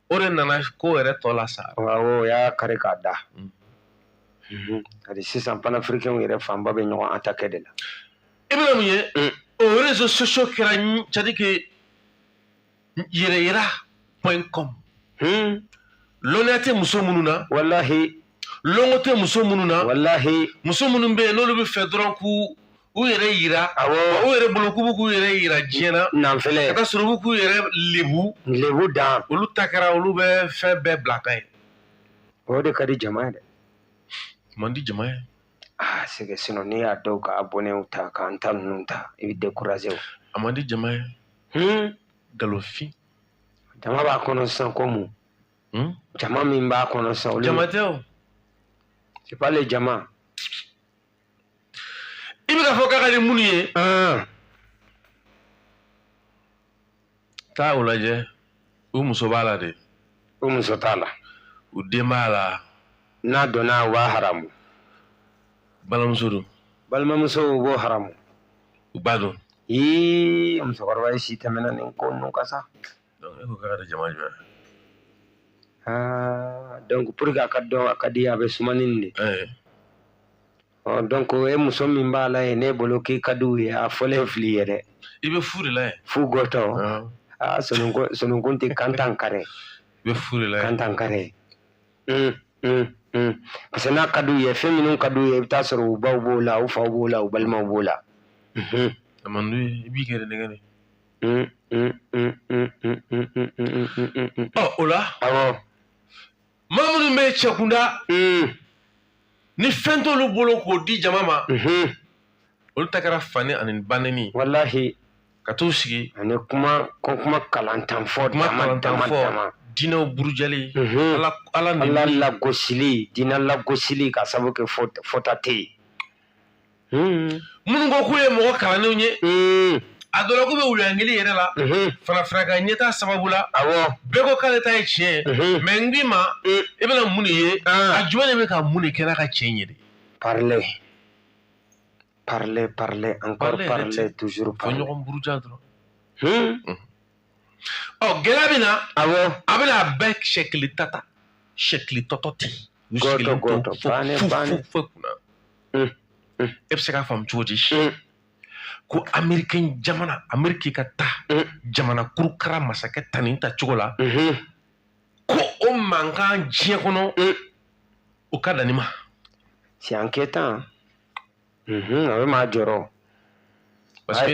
S2: o de nana
S1: ko yɛrɛ tɔ lasa awɔ o y'a kari
S2: k'a da hali sisan panafirikɛnw yɛrɛ fanba bɛ ɲɔgɔn attaquer de la i bɛna mun ye
S1: o réseaux sociaux kɛra c'est à dire que yɛrɛyira point com hmm. lɔnniya tɛ muso minnu na
S2: walahi lɔnko tɛ
S1: muso minnu na walahi muso minnu
S2: bɛ yen n'olu
S1: b'a fɛ dɔrɔn k'u u yɛrɛ yira awɔ u yɛrɛ bolo k'u bɛ
S2: k'u
S1: yɛrɛ yira diɲɛ na nanfɛlɛ ka taa sɔrɔ u bɛ
S2: k'u
S1: yɛrɛ lebu lebu dan olu
S2: ta kɛra olu bɛ
S1: fɛn bɛɛ bila ka ye o de
S2: ka di jama ye dɛ man
S1: di jama ye aa c'est que
S2: sinɔn n'i y'a dɔw ka abɔnɛw ta k'an ta ninnu ta i bɛ dekuraze o a man di
S1: jama ye hmm? nkalonfin
S2: jama b'a kɔnɔ sisan ko mun hmm? jama min b'a kɔnɔ sisan olu jama tɛ
S1: o
S2: c'est pas les
S1: jama i bɛ k'a fɔ k'a ka di minnu ye taa u lajɛ u muso b'a la de u muso
S2: t'a la u den
S1: b'a la n'a donna
S2: u b'a haramu
S1: balimamuso don balimamuso u b'o
S2: haramu u ba
S1: don
S2: ii musokɔrɔba ye si tɛmɛna nin ko ninnu kan sa e ko k'a ka
S1: di jama
S2: jumɛn donc pour que a k'a dɔn a ka di a bɛ suman ni nin de donc e muso min b'a la ye ne bolo k'i ka di u ye a fɔlen fili ye dɛ i bɛ fu de la
S1: ye fu
S2: gɔtɔ aa sonunkun tɛ kantan kare i bɛ
S1: fu
S2: de la
S1: ye kantan kare
S2: parce que n'a ka di u ye fɛn minnu ka di u ye i bɛ taa sɔrɔ u baw b'o la u faw b'o la u balimaw b'o la
S1: a man d'u ye i b'i yɛrɛ nɛgɛn de ɔ o la awɔ maa minnu bɛ cɛkunda mm. ni fɛn t'olu bolo k'o di jama ma mm-hmm. olu ta kɛra fanɛni ani banɛni walahi
S2: ka t'u sigi
S1: ani kuma
S2: ko kuma kalantan fɔ kuma dama fɔ
S1: diinɛw burujali mm-hmm. ala ala lagosili
S2: diinɛ lagosili ka sabu kɛ fɔta tɛ yen Hmm. minnu ko
S1: k'u ye mɔgɔ kalannenw ye hmm. a dɔ la k'u bɛ wuluyangeli yɛrɛ la hmm. farafinna ka ɲɛtaa sababu la bɛɛ ko k'ale ta ye tiɲɛ ye mais n k'i ma i bɛna mun de ye ah. a jumɛn de bɛ ka mun de kɛ n'a ka tiɲɛ ye de
S2: parler parler parler encore parler toujours parler fɔ ɲɔgɔn buruja dɔrɔn
S1: ɔ gɛlɛya bɛ na awɔ a bɛna a bɛɛ sɛkili tata sɛkili tɔtɔ tɛ yen gɔtɔ gɔtɔ
S2: bannen bannen
S1: foyi kunna mm, mm. e bɛ se k'a faamu cogo di mm. ko amerikɛn jamana ameriki ka taa jamana kurukara masakɛ ta nin ta cogo la mm-hmm. ko o mankan diɲɛ kɔnɔ o ka dan nin ma c'est
S2: inquiétant a bɛ maa jɔrɔ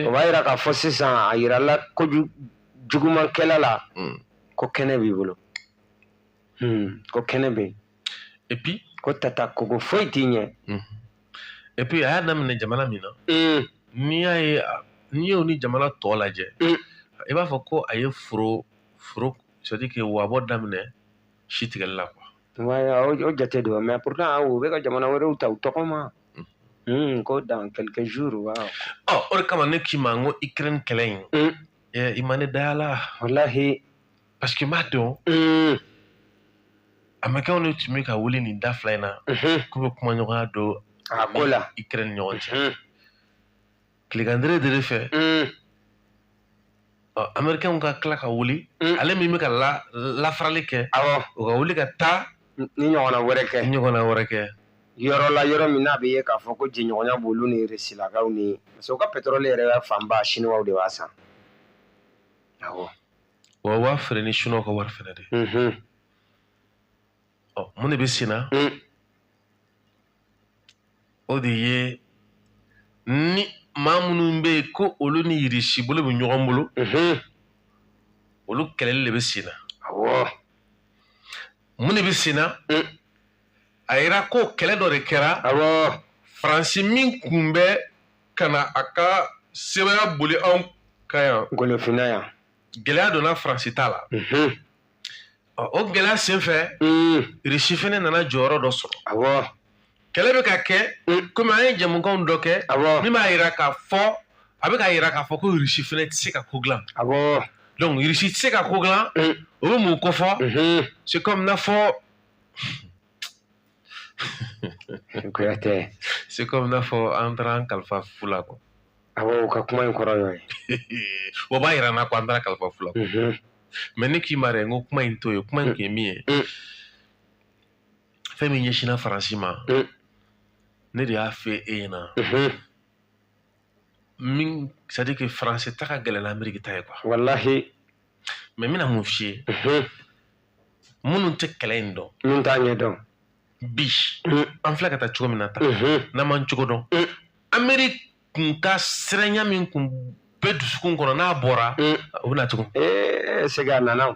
S2: o b'a yira k'a fɔ sisan a yirala ko jugumankɛla la hmm. ko kɛnɛ b'i bolo hmm, ko kɛnɛ bɛ yen
S1: et puis ko tata
S2: kogo foyi t'i ɲɛ hmm. et
S1: puis a y'a daminɛ jamana min na n'i y'a ye n'i y'o ni jamana tɔw lajɛ i b'a fɔ ko a ye foro foro c'est-à-dire que wabɔ daminɛ si tigɛli la quoi o jate
S2: don mais pourtant u bɛ ka jamana wɛrɛw ta u tɔgɔ ma hmm, ko dans quelques jours waaw ɔ o
S1: de kama ne k'i ma n ko ukraine kɛlɛ in hmm. i ma ne da y'a la
S2: walahi parce que n
S1: b'a dɔn hmm. amerikɛnw de tun bɛ ka wuli nin da fila in na k'u bɛ kumaɲɔgɔnya don a ko la
S2: ukraine ɲɔgɔn cɛ
S1: tilegandire de fɛ amerikɛnw ka tila ka wuli ale min bɛ ka lafarali kɛ o ka wuli ka taa nin ɲɔgɔnna wɛrɛ
S2: kɛ ɲɔgɔnna wɛrɛ kɛ yɔrɔ la yɔrɔ min n'a bɛ ye k'a fɔ ko jɛɲɔgɔnya b'olu ni risilakaw ni parce que u ka petrɔli yɛrɛ fanba siniwaw de b'a san awɔ
S1: wa u b'a feere ni siniwaw ka wari fɛnɛ de ye ɔ mun de bɛ sen na mm. o de ye ni maa minnu bɛ yen ko olu ni irisi bolo bɛ ɲɔgɔn bolo mm-hmm. olu kɛlɛli de bɛ sen na mun de bɛ sen na mm. a yira ko kɛlɛ dɔ de kɛra faransi min kun bɛ ka na a ka sebaaya boli anw kan yan golofinna yan
S2: gɛlɛya donna
S1: faransi ta la mm-hmm. o gɛlɛya senfɛ irisi mm. fɛnɛ nana jɔyɔrɔ dɔ sɔrɔ awɔ kɛlɛ bɛ ka kɛ mm. komi an ye jamukanw dɔ kɛ awɔ min b'a yira k'a fɔ a bɛ k'a yira k'a fɔ ko irisi fɛnɛ tɛ se ka ko dilan awɔ donc irisi tɛ se ka ko dilan mm. o bɛ mun kofɔ mm-hmm. c'est comme n'a fɔ kuyate c'est comme n'a fɔ an taara an kalifa fu la quoi awɔ u ka kuma
S2: in kɔrɔ y'o ye o b'a yira n
S1: na ko an taara kalifa fu la mais ne k'i ma dɛ n ko kuma in to ye kuma in kun ye min ye fɛn min ɲɛsinna faransi ma ne de y'a fɔ e ɲɛna min c'est à dire que français ta ka gɛlɛn n'ameriki ta ye quoi
S2: wallahi mais
S1: n bɛna mun f'i ye mhm. minnu tɛ kɛlɛ in dɔn minnu t'a ɲɛ dɔn
S2: bi
S1: mhm. an filɛ ka taa cogo min na tan mhm. n'an m'an cogo dɔn ameriki kun ka siranya min kun bɛ dusukun kɔnɔ n'a bɔra o bɛna tugun eh, segin a
S2: nana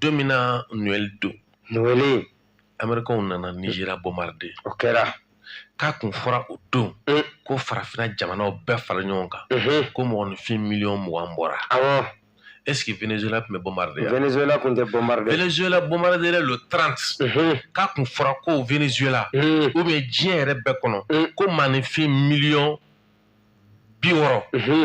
S1: don min na noɛli don noɛli amerikɛnw nana nizeriya bombarder o
S2: kɛra k'a kun fɔra
S1: o don mm. ko farafina jamanaw bɛɛ fara ɲɔgɔn kan mm-hmm. ko mɔgɔninfin miliyɔn mugan bɔra awɔ est-ce que Venezuela tun bɛ bombarder yan Venezuela tun
S2: tɛ bombarder Venezuela
S1: bombarder le 30 mm-hmm. k'a kun fɔra ko Venezuela mm. ou bien diɲɛ yɛrɛ bɛɛ kɔnɔ mm. ko maaninfin miliyɔn bi wɔɔrɔ mm-hmm.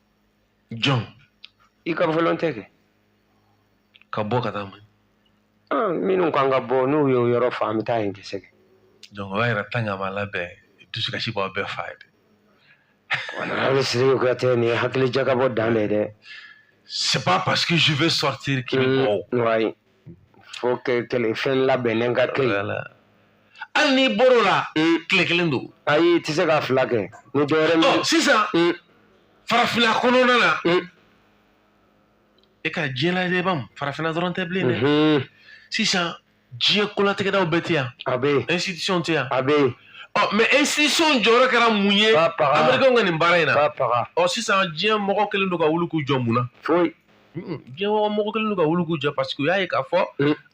S2: jɔn i ka volonté
S1: kɛ ka bɔ ka taa man ah, minnu
S2: kan ka bɔ n'u ye yɔrɔ fa an bɛ taa yen kisɛ kɛ donc o b'a yira
S1: tan ka ma labɛn dusukasi b'aw bɛɛ fa ye dɛ
S2: wala bɛ siriki kuyate nin ye hakili jagabɔ dan de ye dɛ c'est pas
S1: parce que je veux sortir k'i bɔ mm,
S2: faut que kɛlɛ fɛn labɛnnen ka kɛ
S1: yen hali n'i bɔr'o la tile kelen don ayi i tɛ se ka fila
S2: kɛ ni dɔ wɛrɛ min sisan
S1: farafinna kɔnɔna na e ka diɲɛ lajɛ ban farafinna dɔrɔn tɛ bilen dɛ sisan diɲɛ kolatigɛdaw bɛɛ tɛ yan a bɛ yen
S2: institution tɛ yan a
S1: bɛ yen
S2: ɔ mais
S1: institution jɔyɔrɔ kɛra mun ye amerikɛnw ka nin baara in na ɔ sisan diɲɛ
S2: mɔgɔ
S1: kelen don ka wuli k'u jɔ mun na foyi
S2: diɲɛ
S1: kɔnɔ mɔgɔ kɛlen don ka wuli k'u jɔ paseke u y'a ye k'a fɔ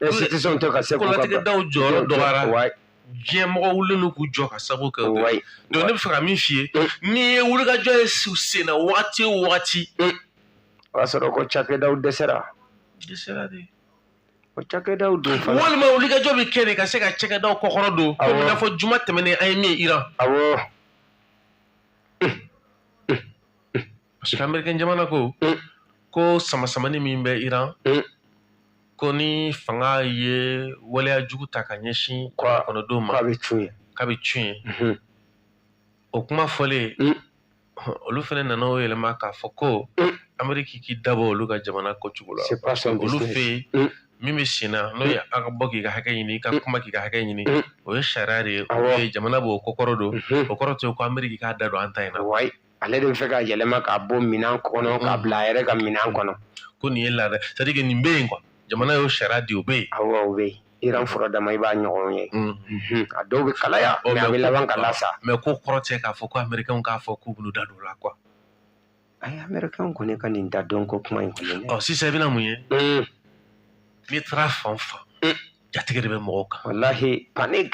S1: institution tɛ
S2: ka se k'u ka kolatigɛdaw jɔyɔrɔ
S1: dɔgɔyara Wayi. diɲɛ mɔgɔ wulilen don k'u jɔ ka sabu kɛ o ye Wayi. donc ne bɛ fɛ ka min f'i ye n'i ye wulikajɔ ye senna wagati o wagati o
S2: y'a sɔrɔ ko cakɛdaw dɛsɛra dɛsɛra
S1: de
S2: o cakɛdaw dun fana walima wulikajɔ bɛ
S1: kɛ de ka se ka cɛkɛdaw kɔkɔrɔ don Awɔ. komi i n'a fɔ juma tɛmɛnen an ye min ye iran awɔ parce que amerikɛn jamana ko mm. ko samasamani min bɛ iran mm. ko ni fanga ye waleya jugu ta ka ɲɛsin kɔnɔdenw ma k'a bɛ cun ye k'a bɛ cun ye mhm. o kuma fɔlen mm. olu fana nana o yɛlɛma k'a fɔ ko ameriki k'i da bɔ olu ka jamana ko cogo la olu fɛ yen min bɛ sen na n'o ye mm. an ka bɔ k'i ka hakɛ ɲini i ka mm. kuma k'i ka hakɛ ɲini mm. o ye sariya de ye jamana b'o kɔkɔrɔ don o kɔrɔ tɛ ko ameriki k'a da don an ta in na ale de bɛ fɛ ka yɛlɛma k'a bɔ minɛn kɔnɔ k'a bila a yɛrɛ ka minɛn kɔnɔ ko nin ye laada c'est à dire que nin bɛ yen quoi jamana y'o sariya di o bɛ yen awɔ o bɛ yen iran furadama i b'a ɲɔgɔn ye Mhm. a dɔw bɛ kalaya Ɔ, mais a bɛ laban ka lasa mais k'o kɔrɔ tɛ k'a fɔ ko américain k'a fɔ k'u b'u da don o la quoi ayi amɛrikɛnw kɔni ka nin da don ko kuma in kɔni ɔ sisan i bɛna mun ye Mm, n'i taara fan o fan Mm. jatigɛ de bɛ mɔgɔw kan walahi panic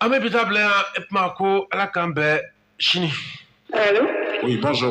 S1: An bɛ bi ta
S3: bila
S1: yan e tuma ko ala k'an bɛn sini. Allô Oui, bonjour.